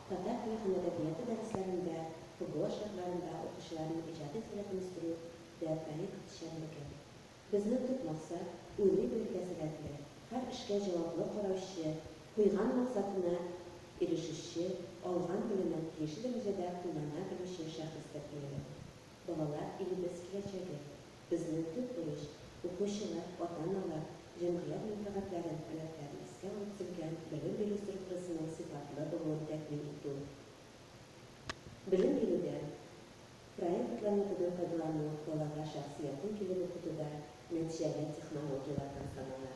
Татар теле һәм әдәбияты дәресләрендә, ФГО шартларында укучыларның иҗади сәләтен үстерү дә проект эшчәнлеге. Безнең төп максат, уйлый белергә сәләтле, һәр эшкә җаваплы караучы, куйган максатына ирешүче, алган белемен тиешле дәрәҗәдә куллана белүче шәхес тәрбияләү. Балалар, илебез киләчәге. Безнең төп бурыч, укучылар, ата-аналар, җәмгыять мәнфәгатьләрен, таләпләрен искә алып төзелгән белем бирү структурасының сыйфатлы булуын тәэмин итү. Белем бирүдә проект планетадан файдалану балага шәхсиятен килеп укытуда нәтиҗәле технологияләрдән санала.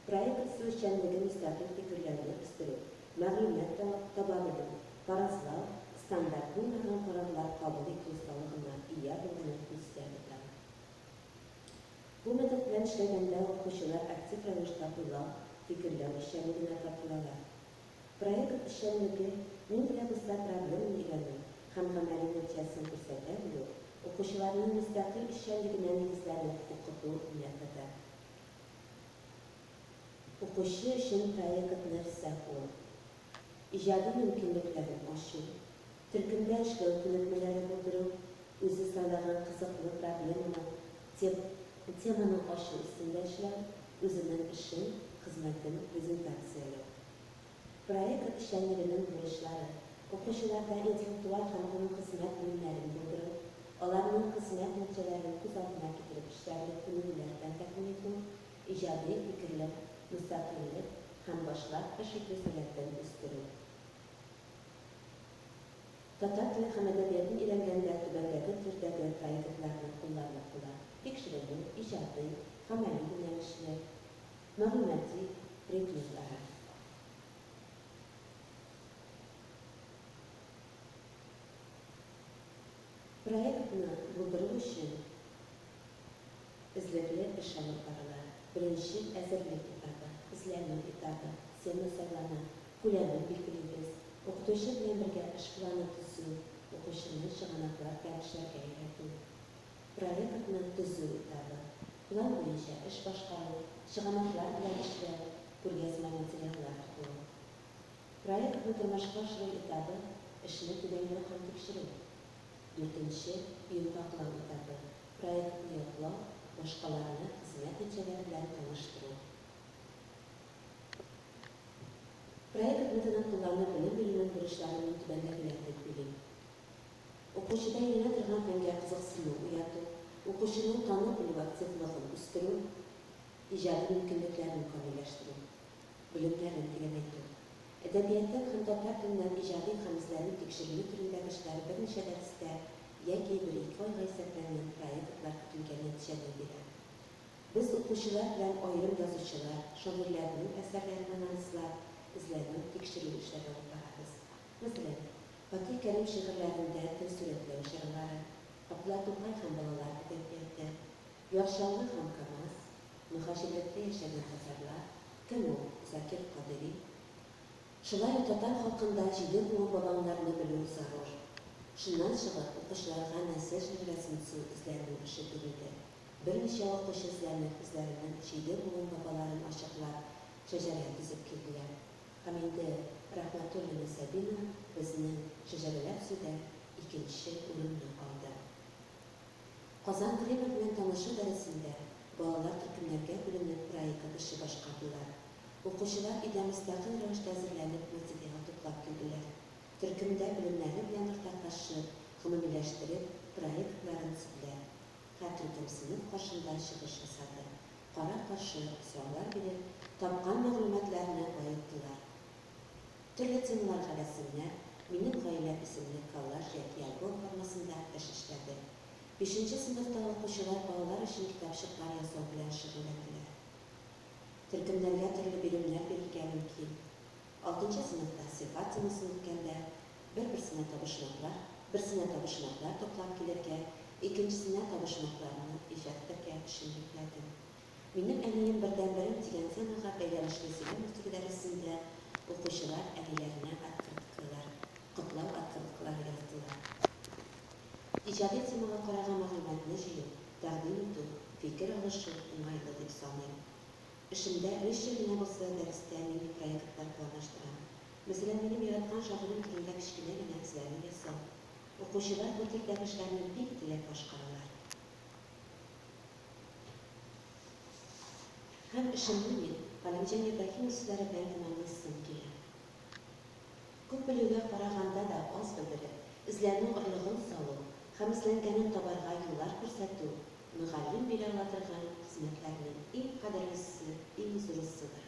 Проект үзешчәнлеге мөстәкыйль фикерләрне үстерү, мәгълүмат таба белү, фаразлау, стандарт булмаган карарлар кабул итү осталыгына ия булуны күздә тота. Бу метод белән эшләгәндә укучылар актив рәвештә уйлау, фикерләү эшчәнлегенә тартылалар. Проект эшчәнлеге мин белән оста проблеманы өйрәнү һәм гамәли нәтиҗәсен күрсәтә белү, укучыларның мөстәкыйль эшчәнлегенә нигезләрне укыту методы. Укучы өчен проект нәрсә ул? Иҗади мөмкинлекләрен ачу, төркемдә эшләү күнекмәләре булдыру, үзе сайлаган кызыклы проблеманы, теманы ачу өстендә эшләү, үзенең эшен, хезмәтен презентацияләү. Проект эшчәнлегенең бурычлары, укучыларда интеллектуаль һәм гомум хезмәт белемнәрен булдыру, аларның хезмәт нәтиҗәләрен күз алдына китереп эшләрлек күнегүләр белән тәэмин итү, иҗади фикерлек, мөстәкыйльлек һәм башлап эш итү сәләтен үстерү. Татар теле һәм әдәбиятын өйрәнгәндә түбәндәге төрдәге проектларны кулланып була, тикшеренү, иҗади, гамәли юнәлешле, мәгълүмати предметлары. Проектны булдыру өчен эзлекле эш алып барыла. Беренче әзерлек этабы, эзләнү этабы, тема сайлана, күләмен билгелибез, укытучы белән бергә эш планы төзү, укучыны чыганаклар белән эшләргә өйрәтү. проектны төзү этабы, план буенча эш башкару, чыганаклар белән эшләү, күргәзмә материаллар туплау. Проектны тормышка ашыру этабы, эшне төгәлләү һәм тикшерү. Дүртенче, йомгаклау этабы, проектны яклау, башкаларны хезмәт нәтиҗәләре белән таныштыру. Проект методын куллану белем бирүнең бурычларының түбәндәгеләр дип билим. Укучыда еңә торган фәнгә кызыксыну уяту, укучының тану белү активлыгын үстерү, иҗади мөмкинлекләрен камилләштерү, белемнәрен тирәнәйтү. Әдәбиятның һәм татар теленең иҗади һәм эзләнү тикшеренү төрендәге эшләре берничә дәрестә яки бер-ике айга исәпләнгән проектлар көтелгән нәтиҗәне бирә. Без укучылар белән аерым язучылар, шагыйрьләрнең әсәрләрен анализлап, эзләнү, тикшерү эшләре алып барабыз. Мәсәлән. Фатих Кәрим шигырьләрендә тел сурәтләү чаралары, атлар Тукай һәм балалар әдәбияты, Яр Чаллы һәм Камаз, мөһаҗирлектә яшәгән татарлар, Кем ул, Закир Кадыйри? Шулай ук татар халкында җиде буын бабаңнарны белү зарур. Шуннан чыгып, укучыларга нәсел шәҗәрәсен төзү эзләренең эше бирелде. Берничә укучы эзләнеп, үзләренең җиде буын бабаларын ачыклап, шәҗәрә төзеп килделәр. Һәм инде Рәхмәтуллина Сабина безнең Шәҗәрәләр сүдә икенче урынны алды. Казан Кремль белән танышу дәресендә балалар төркемнәргә бүленеп проектын эше башкардылар. Укучылар өйдә мөстәкыйль рәвештә әзерләнеп материал туплап килделәр. Төркемдә белемнәре белән уртаклашып, гомумиләштереп, проектларын сүдләр. Хатын төп сыйныф каршында чыгыш ясады, кара-каршы сораулар биреп, тапкан мәгълүматларны баеттылар. Төрле темаларга рәсемнәр, Минем гаиләм исемле коллаж яки альбом формасында эш эшләде. Бишенче сыйныфта укучылар балалар өчен китапчыклар ясау белән шөгыльләнәләр. Төркемнәргә төрле биремнәр бирергә мөмкин. Алтынчы сыйныфта сыйфат темасын үткәндә, бер-берсенә табышмаклар, берсенә табышмаклар туплап килергә, икенчесенә табышмакларны ишәттерергә төшенмәкләдем. Минем әнием бердәнберем дигән темага бәйләнешле сөйләм үстерү дәресендә укучылар әниләренә открыткалар, котлау открыткалары яздылар. Иҗади темага караган мәгълүматны җыю, тәкъдим итү, фикер алышу уңайлы дип саныйм. Эшемдә биш ел генә булса, дәрестә милли проектлар планлаштырам. Мәсәлән, минем яраткан шагыйрем турында кечкенә генә эзләнү ясау. Укучылар бу төрдәге эшләрне бик теләп башкаралар. Һәм эшемне мин Галимҗан Ибраһимов сүзләре белән тәмамлыйсым килә. Күп белүгә караганда да аз белдереп, эзләнү орлыгын салу һәм эзләнгәнен табарга юллар күрсәтү, Мөгаллим бирә ала торган хезмәтләрнең иң кадерлесе, иң зурысыдыр.